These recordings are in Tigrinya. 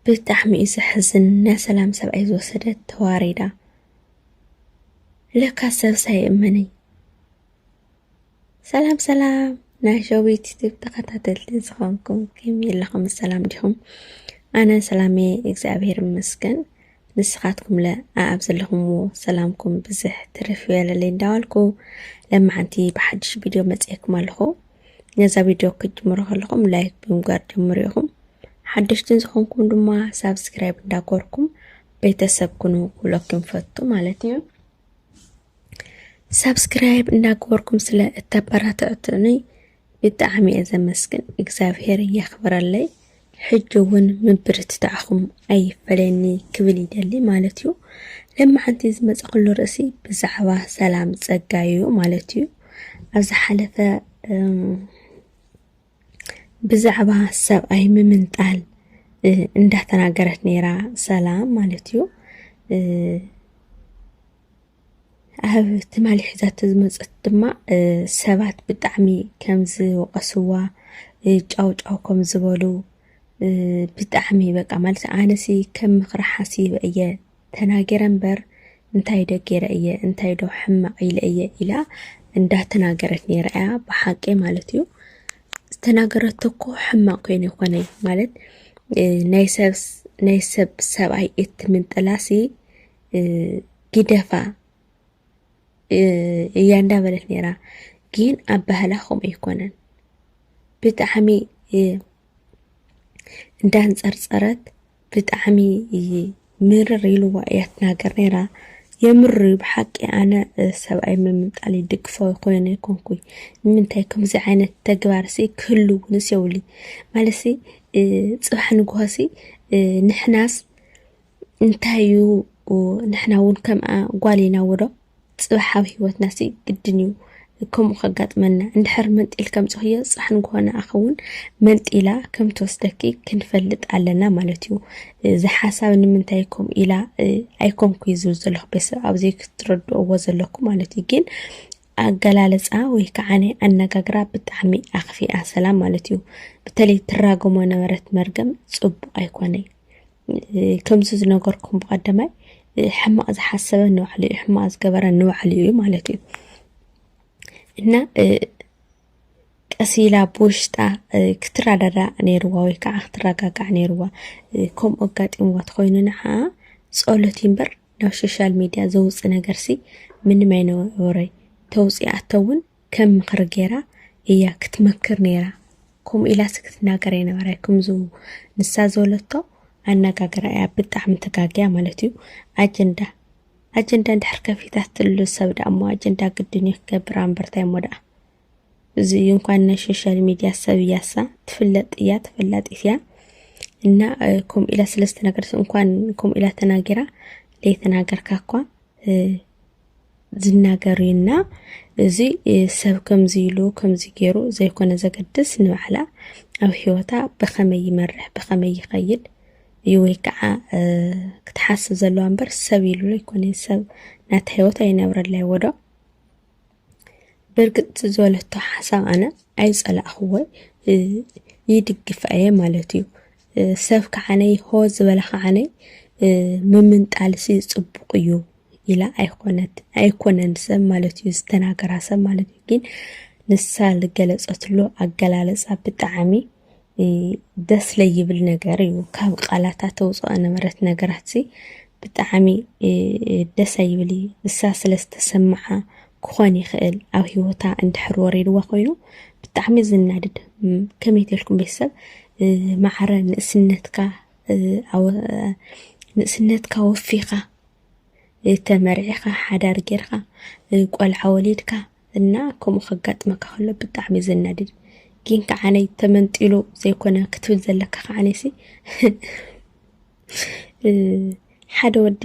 ብጣዕሚ እዩ ዘሕዝን ናይ ሰላም ሰብኣይ ዝወሰደት ተዋሪዳ ለካ ሰብስ ኣይእመንይ ሰላም ሰላም ናይ ሸዊት ዩቲብ ተኸታተልቲ ዝኾንኩም ከመይ ኣለኹም ሰላም ዲኹም ኣነ ሰላሜ እግዚኣብሔር ይመስገን ንስኻትኩም ለ ኣብ ዘለኹምዎ ሰላምኩም ብዝሕ ትርፍ ይበለለይ እንዳበልኩ ለማዓንቲ ብሓድሽ ቪድዮ መፅኤኩም ኣለኹ ነዛ ቪድዮ ክትጅምሩ ከለኹም ላይክ ብምግባር ጀምሩ ኢኹም ሓደሽትን ዝኾንኩም ድማ ሳብስክራይብ እንዳኮርኩም ቤተሰብ ኩኑ ክብለኩም ፈቱ ማለት እዩ ሳብስክራይብ እንዳገበርኩም ስለ እተበራትዕቱኒ ብጣዕሚ እየ ዘመስግን እግዚኣብሄር የኽብረለይ ሕጂ ውን ምብርትታዕኹም ኣይፈለየኒ ክብል ይደሊ ማለት እዩ። ለማሓንቲ ዝመጸክሉ ርእሲ ብዛዕባ ሰላም ጸጋ እዩ ማለት እዩ። ኣብ ዝሓለፈ ብዛዕባ ሰብኣይ ምምንጣል እንዳተናገረት ነይራ ሰላም ማለት እዩ። ኣብ ትማሊ ሒዛቶ ዝመፀት ድማ ሰባት ብጣዕሚ ከም ዝወቐስዋ ጫው ጫው ከም ዝበሉ ብጣዕሚ በቃ ማለት ኣነሲ ከም ምኽሪ ሓሲበ እየ ተናገረ እምበር እንታይ ዶ ገይረ እየ እንታይ ዶ ሕማቕ ኢለ እየ ኢላ እንዳተናገረት ነይራ እያ ብሓቂ ማለት እዩ ዝተናገረቶ እኮ ሕማቕ ኮይኑ ይኾነ ማለት ናይ ሰብ ናይ ሰብ ሰብኣይ እትምንጥላሲ ግደፋ እያ እንዳበለት ነይራ ግን ኣብ ባህላ ከምኡ ኣይኮነን ብጣዕሚ እንዳንፀርፀረት ብጣዕሚ ምርር ኢልዋ እያ ትናገር ነይራ የምር እዩ ብሓቂ ኣነ ሰብኣይ ምምንጣል ይድግፎ ኮይነ ይኮንኩይ ንምንታይ ከምዚ ዓይነት ተግባር ሲ ክህሉ እውን ሲ የብሉይ ማለት ሲ ፅባሕ ንግሆ ሲ ንሕናስ እንታይ እዩ ንሕና እውን ከምኣ ጓል ኢና ወዶ ፅባሕ ኣብ ህይወትና ሲ ግድን እዩ ከምኡ ከጋጥመና እንድሕር መንጢል ከምፅኽዮ ፅባሕ ንግሆና ኣኸውን መንጢላ ከም ትወስደኪ ክንፈልጥ ኣለና ማለት እዩ እዚ ሓሳብ ንምንታይ ኮም ኢላ ኣይኮንኩ እዩ ዝብል ዘለኹ ቤተሰብ ኣብዚ ክትረድእዎ ዘለኩ ማለት እዩ ግን ኣገላለፃ ወይ ከዓ ናይ ኣነጋግራ ብጣዕሚ ኣኽፊኣ ሰላም ማለት እዩ በተለይ ትራገሞ ነበረት መርገም ፅቡቅ ኣይኮነይ ከምዚ ዝነገርኩም ብቀደማይ ሕማቅ ዝሓሰበ ንባዕሉ እዩ ሕማቅ ዝገበረ ንባዕሉ እዩ ማለት እዩ እና ቀስ ኢላ ብውሽጣ ክትረዳዳእ ነይርዋ ወይ ከዓ ክትረጋጋዕ ነይርዋ ከምኡ ኣጋጢምዋ ተኮይኑ ንዓ ጸሎት እምበር ናብ ሶሻል ሚድያ ዘውፅ ነገርሲ ምንም ኣይነበረይ ተውፅኣቶ እውን ከም ምኽሪ ገይራ እያ ክትመክር ነይራ ከምኡ ኢላሲ ክትናገር ኣይነበረ ከምዚ ንሳ ዝበለቶ ኣነጋግራ እያ ብጣዕሚ ተጋግያ ማለት እዩ ኣጀንዳ ኣጀንዳ እንድሕር ከፊታትሉ ሰብ ደኣ እሞ ኣጀንዳ ግድን እዩ ክገብር ኣንበርታይ እሞ ደኣ እዚ እዩ እንኳን ናይ ሶሻል ሚድያ ሰብ እያሳ ትፍለጥ እያ ተፈላጢት እያ እና ከምኡ ኢላ ስለዝተናገረት እንኳን ከምኡ ኢላ ተናጊራ ዘይተናገርካ እኳ ዝናገር እዩ እና እዚ ሰብ ከምዚ ኢሉ ከምዚ ገይሩ ዘይኮነ ዘገድስ ንባዕላ ኣብ ሂወታ ብኸመይ ይመርሕ ብኸመይ ይኸይድ እዩ ወይ ከዓ ክትሓስብ ዘለዋ እምበር ሰብ ኢሉ ይኮነ ሰብ ናታ ሂወት ኣይነብረላ ይወዶ ብርግፅ ዝበለቶ ሓሳብ ኣነ ኣይፀላእኽዎ ይድግፋ እየ ማለት እዩ ሰብ ከዓነይ ሆ ዝበለ ከዓነይ ምምንጣልሲ ጽቡቕ እዩ ኢላ ኣይኮነት ኣይኮነን ሰብ ማለት እዩ ዝተናገራ ሰብ ማለት እዩ ግን ንሳ ዝገለፀትሉ ኣገላለፃ ብጣዕሚ ደስ ለይብል ነገር እዩ ካብ ቃላታት ተውፅኦ ነበረት ነገራት ሲ ብጣዕሚ ደስ ኣይብል እዩ ንሳ ስለ ዝተሰምዓ ክኾን ይኽእል ኣብ ሂወታ እንድሕር ወሪድዋ ኮይኑ ብጣዕሚ ዝናድድ ከመይ ተልኩም ቤተሰብ ማዕረ ንእስነትካ ንእስነትካ ወፊኻ ተመርዒኻ ሓዳር ጌርካ ቆልዓ ወሊድካ እና ከምኡ ከጋጥመካ ከሎ ብጣዕሚ ዘናድድ ግን ከዓነይ ተመንጢሉ ዘይኮነ ክትብል ዘለካ ከዓነይሲ ሓደ ወዲ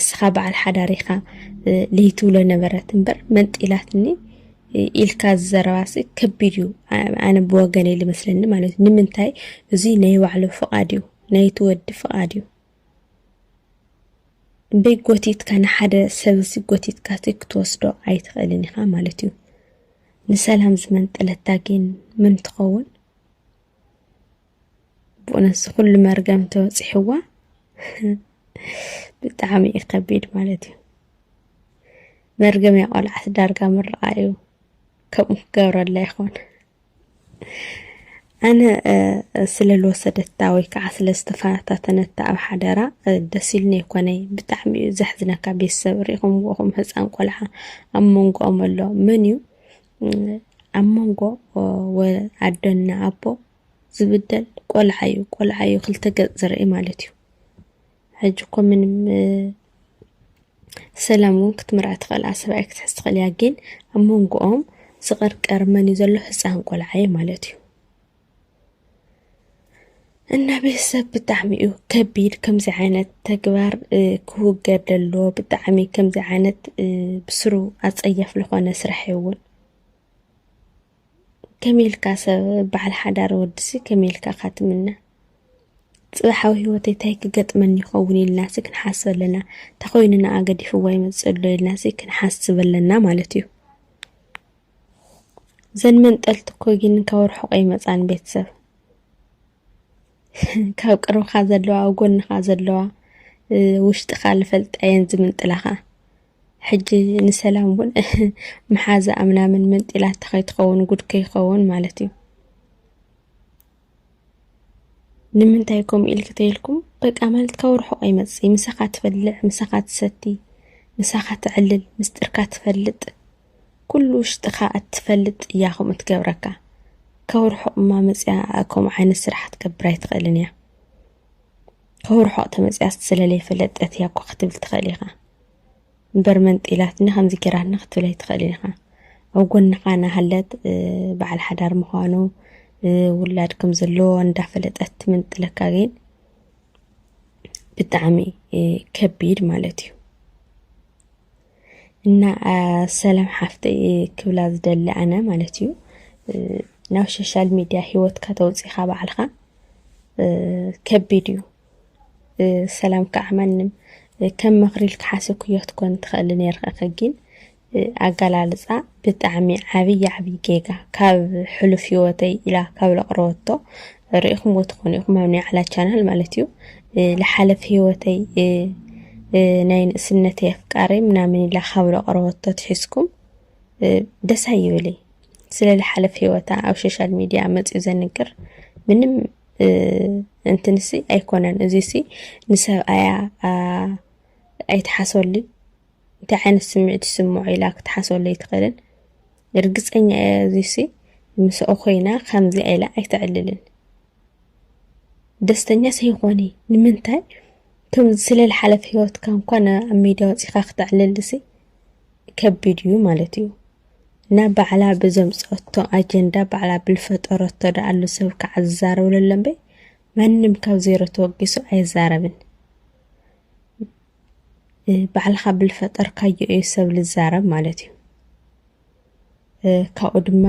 እስኻ በዓል ሓዳር ኢኻ ልሂ ትብሎ ነበረት እምበር መንጢላትኒ ኢልካ ዝዘረባሲ ከቢድ እዩ ኣነ ብወገነይ ልመስለኒ ማለት እዩ ንምንታይ እዙይ ናይ ባዕሉ ፍቓድ እዩ ናይ ትወዲ ፍቓድ እዩ እምበይ ጎቲትካ ንሓደ ሰብ እዚ ጎቲትካ ክትወስዶ ኣይትኽእልን ኢኻ ማለት እዩ ንሰላም ዝመንጠለታ ግን ምን ትኸውን ብኡነት ዝኩሉ መርገም ተወፂሕዋ ብጣዕሚ እዩ ከቢድ ማለት እዩ መርገም እያ ቆልዓት ዳርጋ ምርቃ እዩ ከምኡ ክገብረላ ይኾን ኣነ ስለ ዝወሰደታ ወይ ከዓ ስለ ዝተፈታተነታ ኣብ ሓደራ ደስ ኢልኒ ይኮነይ ብጣዕሚ እዩ ዘሕዝነካ ቤተሰብ ሪኢኹም ኹም ህፃን ቆልዓ ኣብ መንጎኦም ኣሎ መን እዩ ኣብ መንጎ ኣደና ኣቦ ዝብደል ቆልዓ እዩ ቆልዓ እዩ ክልተ ገጽ ዝርኢ ማለት እዩ ሕጂ እኮ ምንም ሰላም እውን ክትምርዐ ትኽእል ኣሰብኣይ ክትሕዝ ትኽእል እያ ግን ኣብ መንጎኦም ዝቐርቀር መን እዩ ዘሎ ህፃን ቆልዓ እዩ ማለት እዩ እና ቤተሰብ ብጣዕሚ እዩ ከቢድ ከምዚ ዓይነት ተግባር ክውገድ ዘለዎ ብጣዕሚ ከምዚ ዓይነት ብስሩ ኣፀያፍ ዝኾነ ስራሕ እውን ከመይ ኢልካ ሰብ በዓል ሓዳር ወድሲ ከመይ ኢልካ እኻ ትምነ ፅባሕ ኣብ ህይወተይ እንታይ ክገጥመኒ ይኸውን ኢልናሲ ክንሓስብ ኣለና እንተ ኮይኑ ንኣ ገዲፍዋ ይመፅእ ኣሎ ኢልናሲ ክንሓስብ ኣለና ማለት እዩ ዘን መንጠልቲ እኮ ግን ካብ ርሑቀ ይመፃን ቤተሰብ ካብ ቅርብኻ ዘለዋ ኣብ ጎንኻ ዘለዋ ውሽጥኻ ልፈልጣ እየን ዝምንጥላኻ ሕጂ ንሰላም እውን መሓዛ ኣምናምን መንጢላታ ከይትኸውን ጉድ ከይኸውን ማለት እዩ ንምንታይ ከምኡ ኢልክ ተይልኩም በቃ ማለት ካብ ርሑቕ ኣይመፅእ ምሳኻ ትበልዕ ምሳኻ ትሰቲ ምሳኻ ትዕልል ምስጢርካ ትፈልጥ ኩሉ ውሽጥኻ ኣትፈልጥ እያ ከምኡ ትገብረካ ከውርሖቕ እማ መጽያ ከምኡ ዓይነት ስራሕ ክትገብር ኣይትኽእልን እያ ከውርሖቕ ተመጽያስ ስለለይ ፈለጠት እያ እኮ ክትብል ትኽእል ኢኻ እምበር መንጢላትኒ ከምዚ ጌራትና ክትብል ኣይትኽእልን ኢኻ ኣብ ጎንኻ ናሃለት በዓል ሓዳር ምዃኑ ውላድ ከም ዘለዎ እንዳፈለጠት ትምንጥለካ ግን ብጣዕሚ ከቢድ ማለት እዩ እና ሰላም ሓፍተይ ክብላ ዝደሊ ኣነ ማለት እዩ ናብ ሶሻል ሚድያ ሂወትካ ተውፂኻ ባዕልኻ ከቢድ እዩ ሰላም ከዓ ማንም ከም ምኽሪ ኢልካ ሓስብክዮ ክትኮን ትኽእል ነርኸ ግን ኣገላልፃ ብጣዕሚ ዓብዪ ዓብዪ ጌጋ ካብ ሕሉፍ ሂወተይ ኢላ ካብ ለቕረወቶ ርኢኹምዎ ትኾኑ ኢኹም ኣብ ናይ ዓላ ቻናል ማለት እዩ ልሓለፍ ህይወተይ ናይ ንእስነተይ ኣፍቃረይ ምናምን ኢላ ካብ ዘቕረበቶ ትሒዝኩም ደስ ኣይብለይ ስለ ልሓለፍ ህይወታ ኣብ ሶሻል ሚዲያ መፅኡ ዘንግር ምንም እንትንሲ ኣይኮነን እዚሲ ንሰብኣያ ኣይትሓሰሉ እንታይ ዓይነት ስምዒት ይስምዖ ኢላ ክትሓስበሉ ኣይትኽእልን። ርግጸኛ እየ እዚሲ ምስኦ ኮይና ከምዚኣ ኢላ ኣይተዕልልን። ደስተኛ ሰይኾኒ ንምንታይ ከምዚ ስለ ዝሓለፈ ህይወትካ እንኳን ኣብ ሚድያ ወፂኻ ክተዕልልሲ ከቢድ እዩ ማለት እዩ። ናብ ባዕላ ብዘምፀቶ ኣጀንዳ ባዕላ ብልፈጠረቶ ደኣሉ ሰብ ከዓ ዝዛረብሉ ኣለምበይ ማንም ካብ ዜሮ ተወጊሱ ኣይዛረብን ባዕልኻ ብልፈጠርካዮ እዩ ሰብ ልዛረብ ማለት እዩ ካብኡ ድማ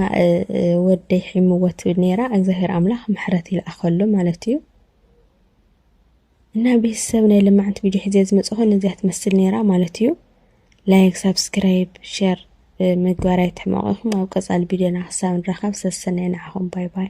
ወደይ ሒምዎ ትብል ነይራ እግዚኣብሔር ኣምላኽ ምሕረት ይልኣኸሎ ማለት እዩ እና ቤተሰብ ናይ ልማዕንቲ ቪድዮ ሒዘ ዝመፅኹ ነዚያ ትመስል ነይራ ማለት እዩ ላይክ ሳብስክራይብ ሸር ምግባር ኣይትሕመቑ ኢኹም ኣብ ቀፃሊ ቪድዮና ክሳብ ንራኸብ ሰሰናይ ንዓኹም ባይ ባይ